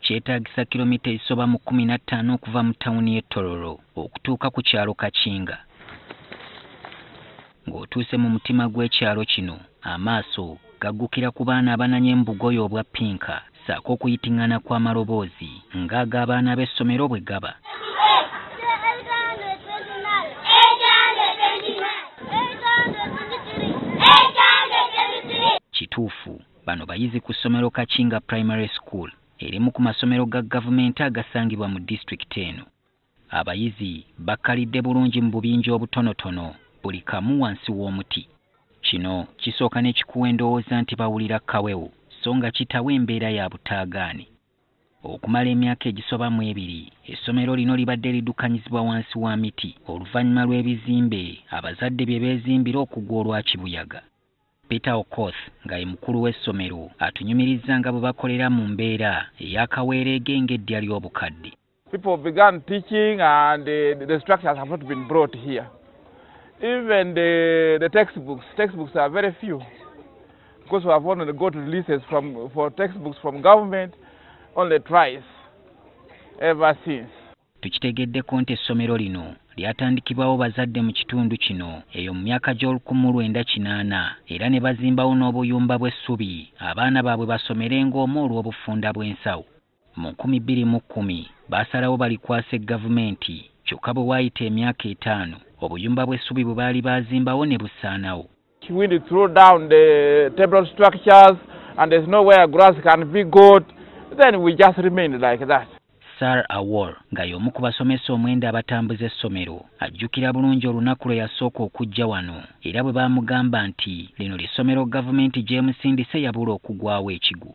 kyetaagisa kilomita ezisoba mu kkumi na ttaano okuva mu tawuni y'e Tororo okutuuka ku kyalo Kakinga. Ng'otuuse mu mutima gw'ekyalo kino, amaaso gaggukira ku baana abananya embugoyo obwa pinka ssaako okuyiting'ana kw'amaloboozi ng'ag'abaana b'essomero bwe gaba. Kituufu Bano bayizi ku ssomero Kakinga Primary School, erimu ku masomero ga gavumenti agasangibwa mu disitulikiti eno. Abayizi bakkalidde bulungi mu bubinja obutonotono, buli kamu wansi w'omuti. Kino kisooka ne kikuwa endowooza nti bawulira kawewo so nga kitawa embeera ya butaagaane. Okumala emyaka egisoba mu ebiri, essomero lino libadde liddukanyizibwa wansi wa miti oluvannyuma lw'ebizimbe abazadde bye beezimbira okugwa olwa kibuyaga. Peter Okoth nga ye mukulu w'essomero atunyumirizza nga bwe bakolera mu mbeera eya kaweereege ng'eddya ly'obukadde. People began teaching and uh, the structures have not been brought here. Even the, the textbooks, textbooks are very few because we have only got releases from, for textbooks from government only twice ever since. Tukitegeddeko nti essomero lino lyatandikibwawo bazadde mu kitundu kino eyo mu myaka gy'olukumu lwenda kinaana era ne bazimbawo n'obuyumba bw'essubi abaana baabwe basomerenga omwo olw'obufunda bw'ensawo. Mu nkumi bbiri mu kkumi baasalawo balikwase Gavumenti kyokka bwe waayita emyaka etaano obuyumba bw'essubi bwe baali baazimbawo ne busaanawo. Wind throw down the table structures and there's nowhere grass can be got, then we just remain like that. Sar Awor nga y'omu ku basomesa omwenda abatambuza essomero ajjukira bulungi olunaku lwe yasooka okujja wano era bwe baamugamba nti lino ly'essomero gavumenti gy'emusindise yabula okugwawo ekigwo.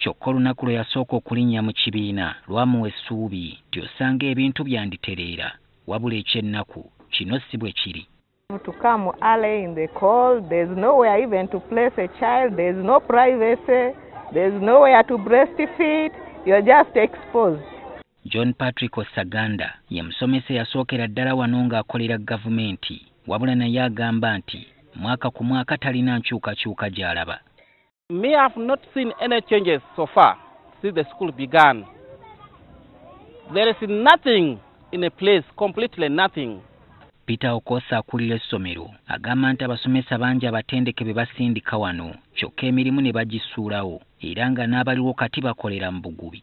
Kyokka olunaku lwe yasooka okulinnya mu kibiina lwamuwa essuubi nti osanga ebintu byanditereera wabula eky'ennaku kino si bwe kiri. to come early in the call there's nowhere even to place a child there's no privacy there's nowhere to breastfeed you're just exposed John Patrick Osaganda ye musomesa eyasookera ddala wano ng'akolera gavumenti wabula naye agamba nti mwaka ku mwaka talina nkyukakyuka gy'alaba. Me, I have not seen any changes so far since the school began. There is nothing in a place, completely nothing. Peter Okosa akulira essomero agamba nti abasomesa bangi abatendeke be basindika wano kyokka emirimu ne bagisuulawo era nga n'abaliwo kati bakolera mu bugubi.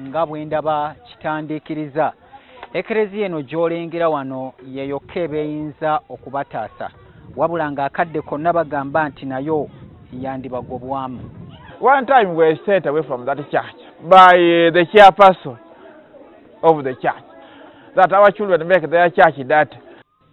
nga bwe ndaba kitandiikiriza ekereziya eno gy'olengera wano yeyokka ebeeyinza okubataasa wabula ng'akadde konna bagamba nti nayo yandibagobwamu one time we sent away from that church by uh, the chairperson of the church that our children make their church dirty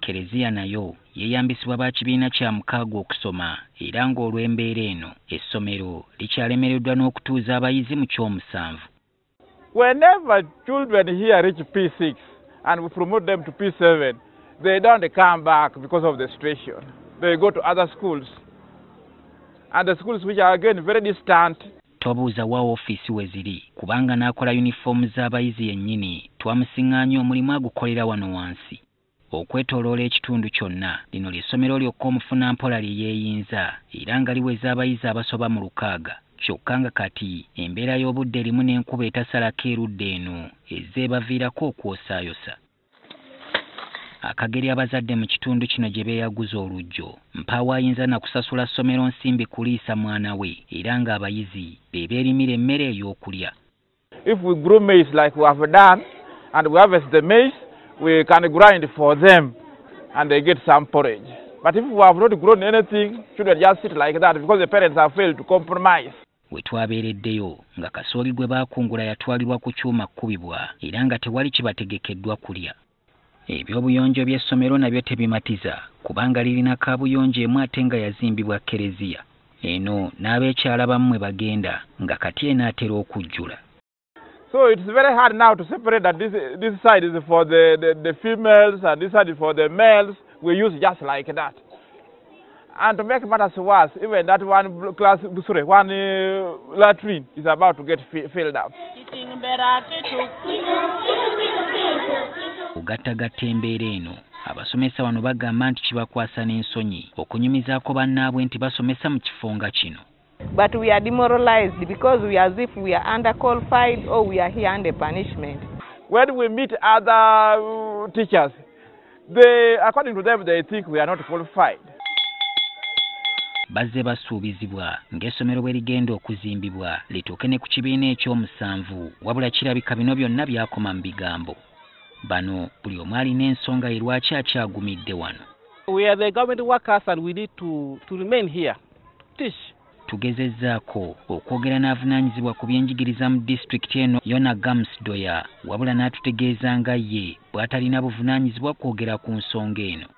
Keleziya nayo yeyambisibwa ba kibiina kya mukaaga okusoma era nga olw'embeera eno, essomero likyalemereddwa n'okutuuza abayizi mu ky'omusanvu. Whenever children here reach P6 and we promote them to P7, they don't come back because of the situation. They go to other schools and the schools which are again very distant. Tobuuza wa ofiisi we ziri kubanga n'akola yunifoomu z'abayizi yennyini twamusiŋŋaanya omulimu agukolera wano wansi. Okwetoloola ekitundu kyonna, lino lye ssomero lyokka omufunampola lye yeeyinza era nga liweza abayizi abasoba mu lukaaga kyokka nga kati embeera y'obudde erimu n'enkuba etasalako erudda eno ezze ebaviirako okwosaayosa akageri abazadde mu kitundu kino gye beeyaguza oluggyo. Mpaawo ayinza na kusasula ssomero nsimbi kuliisa mwana we era ng'abayizi be beerimira emmere ey'okulya. If we grow maize like we have done and we harvest the maize, we can grind for them and they get some porridge. But if we have not grown anything, children just sit like that because the parents have failed to compromise. we twabeereddeyo nga kasooli gwe baakungula yatwalibwa ku kyuma kkubibwa era nga tewali kibategekeddwa kulya Eby'obuyonjo by'essomero nabyo tebimatiza kubanga lirina kaabuyonjo emu ate nga yazimbibwa Kkereziya. Eno n'abeekyala abamu mwe bagenda nga kati enaatera okujjula. So it's very hard now to separate that this, this side is for the, the, the females and this side is for the males. We use just like that. And to make matters worse, even that one class, sorry, one uh, latrine is about to get filled up. Ugatagatta embeera eno abasomesa wano bagamba nti kibakwasa n'ensonyi okunyumizaako bannaabwe nti basomesa mu kifo nga kino But we are demoralized because we are as if we are under qualified or we are here under punishment. When we meet other uh, teachers, they, according to them, they think we are not qualified. bazze basuubizibwa ng'essomero bwe ligenda okuzimbibwa lituuke ne ku kibiina eky'omusanvu wabula kirabika bino byonna byakoma mu bigambo bano buli omu alina ensonga ye lwaki akyagumidde wano We are the government workers and we need to, to remain here. Tish. Tugezezzaako okwogera n'avunaanyizibwa ku byenjigiriza mu disitulikiti eno Yona Gams Doya wabula n'atutegeeza nga ye bw'atalina buvunaanyizibwa kwogera ku nsonga eno.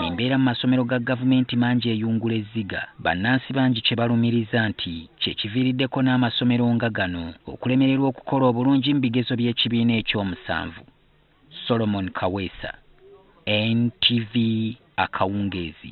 Embeera mu masomero ga gavumenti mangi eyungula ezziga bannansi bangi kye balumiriza nti kye kiviiriddeko n'amasomero nga gano okulemererwa okukola obulungi mu bigezo by'ekibiina ekyomusanvu. Solomon Kaweesa, NTV Akawungeezi.